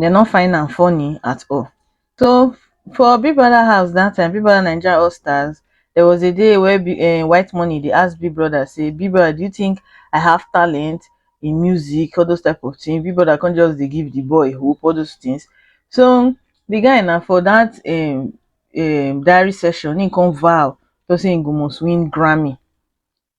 dem no find am funny at all so for big brother house that time big brother naija all stars there was a day where eh, white money dey ask big brother say big brother do you think i have talent in music all those type of things big brother come just dey give the boy hope all those things so the guy na for that um, um, diary session he come vow to say he go must win grammy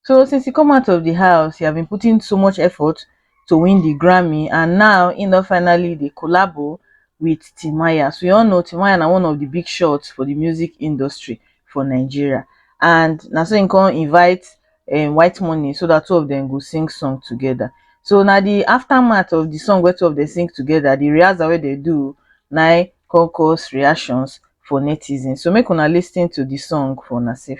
so since e come out of di house e have been putting so much effort to win di grammy and now im don finally dey collabo wit timaya so you all know timaya na one of di big shots for di music industry for nigeria and na so im come invite um white money so dat two of dem go sing song togeda so na di aftermath of di song wey two of dem sing togeda di rehearsal wey dem do na im come cause reactions for netizens so make una lis ten to di song for una sef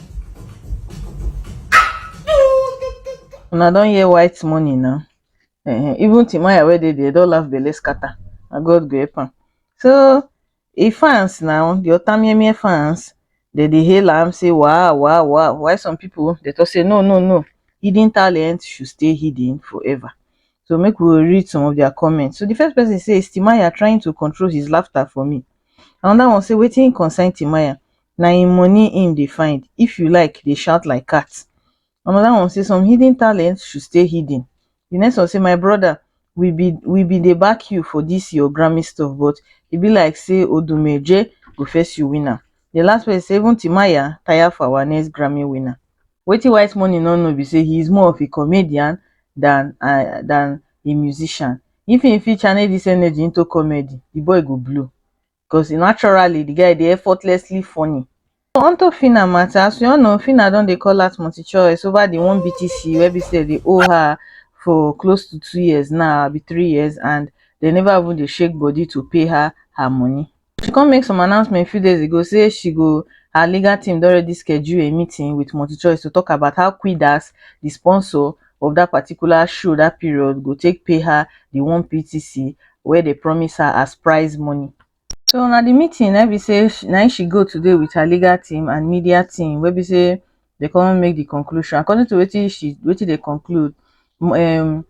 Una don hear white money now. Uh, even Timaya where they they don't laugh belle scatter. And God go help am. So e fans now, the Otamiemie fans, they dey hail am say wow wow wow. Why some people they talk say no no no, hidden talent should stay hidden forever. So make we read some of their comments. So the first person says Timaya trying to control his laughter for me. Another one say waiting concern Timaya. na im money im dey find if you like dey shout like cat another one say some hidden talent should stay hidden the next one say my brother we be we be dey back you for this your grammy stuff but e be like say odumeje go first you win am the last person say even timaya tire for our next grammy winner wetin white money no know be say he is more of a comedian than uh, than a musician if he fit channel this energy into comedy the boy go blow because naturally the guy dey effortlessly funny. So on top Phyna matter, as we all know, Phyna don dey call out multi-choice over the one BTC wey be say dey owe her for close to two years now, be three years, and they never even dey shake body to pay her her money. She come make some announcement few days ago say she go her legal team don already schedule a meeting with multi-choice to talk about how Quidas, the sponsor, of that particular show that period go take pay her the one ptc where they promise her as prize money so now the meeting I be say now she go today with her legal team and media team where be say they come make the conclusion according to what she what they conclude um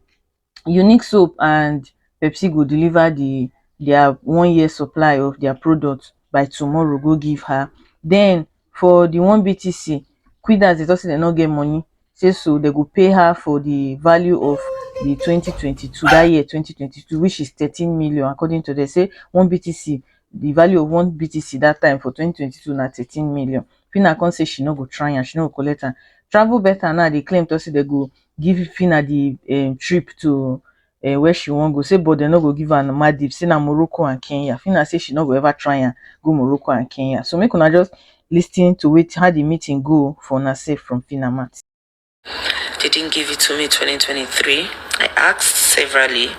unique soap and pepsi go deliver the their one year supply of their product by tomorrow go give her then for the one BTC, Quidas dey talk say dem no get money, say so dem go pay her for the value of the twenty twenty two, that year twenty twenty two which is thirteen million according to dem say one BTC, the value of one BTC that time for twenty twenty two na thirteen million. Phyna come say she no go try am, she no go collect am. Travel Beta now dey claim talk say dem go give Phyna the um trip to um where she wan go say but dem no go give am Maldives say na Morocco and Kenya Phyna say she no go ever try am go Morocco and Kenya so make una just listen to wetin how the meeting go for una sef from Phyna mouth. They didn't give it to me 2023. I asked severally.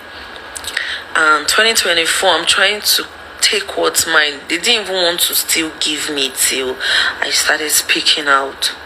And 2024, I'm trying to take what's mine. They didn't even want to still give me till I started speaking out.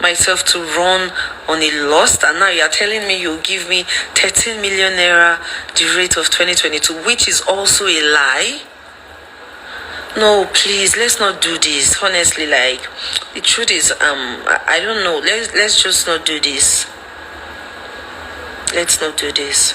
myself to run on a lost and now you are telling me you give me 13 million naira the rate of 2022 which is also a lie no please let's not do this honestly like the truth is um i don't know let's let's just not do this let's not do this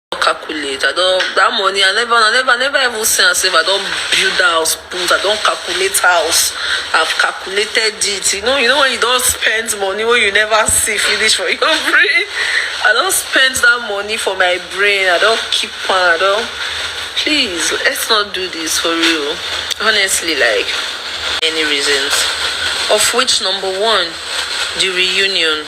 calculate i don that money i never i never never even say am sef i don build house put i don calculate house i've calculated it you know you know when you don spend money wey you never see finish for your brain i don spend that money for my brain i don keep am i don please let's not do this for real honestly like many reasons of which number one the reunion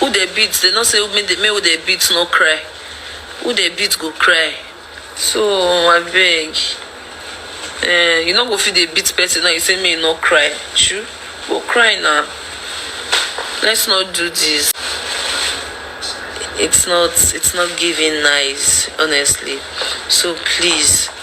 Who dey beat dey no say make dey make who dey beat no cry who dey beat go cry so abeg um you no go fit dey beat person now you say make e no cry shoo go cry na let's not do this it's not it's not giving nice honestly so please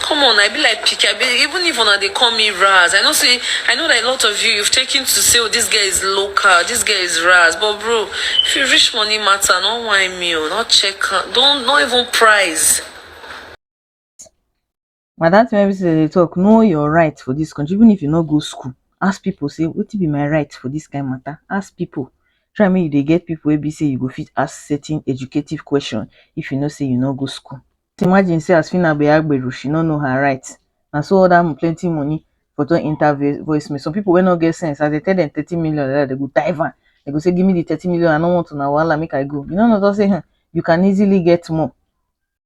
Come on, I be like picky. I be even if una dey call me Raz. I know say I know that a lot of you you've taken to say, oh, this guy is local, this guy is Raz. But bro, if you reach money matter, not why me, oh, not check, don't not even price. But that's why they talk. Know your right for this country, even if you not go school. Ask people, say, what be my right for this kind of matter? Ask people. Try me, they get people where be say you go fit ask certain educative question if you know say you not go school. just imagine say as phyna be agbero she no know her right na so all that um plenty money for don enter voice mail some people wey no get sense as they tell them thirty million like that they go dive am they go say give me the thirty million i no want una wahala make i go you no know just say hmm, you can easily get more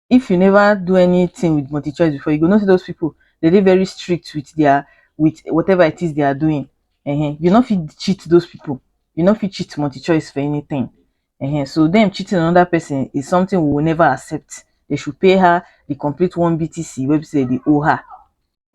if you never do anything with multi choice before you go know say those people they dey very strict with their with whatever it is they are doing uh -huh. you no fit cheat those people you no fit cheat multi choice for anything um so dem cheating on another person is something we will never accept they should pay her the complete one btc wey be say they owe her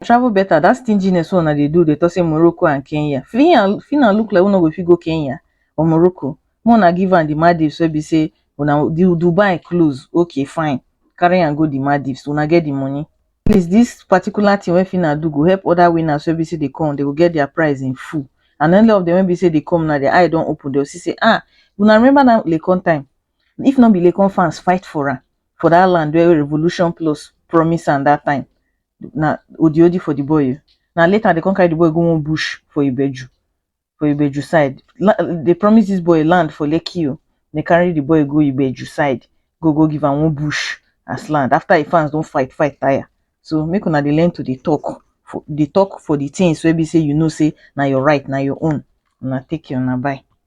travel better that stinginess wey una dey do dey talk say morocco and kenya fina fina look like una go fit go kenya or morocco make una give am the maldives wey be say una the dubai close okay fine carry am go the maldives una get the money at least this particular thing wey Fina do go help other winners wey be say dey come, dey go get their prize in full. And any of them wey be say dey come now, their eye don open, dey go see say ah, una remember that Laycon time? If no be Laycon fans fight for am for that land wey Revolution Plus promise am that time, na odiodi for the boy o. Na later dey come carry the boy go one bush for Ibeju. for ibeju side dey promise dis boy land for lekki o dey carry di boy go ibeju side go go give am one bush as land after e fans don fight fight tire so make una dey learn to dey talk for dey talk for di things wey be say you know say na your right na your own una take care una bye.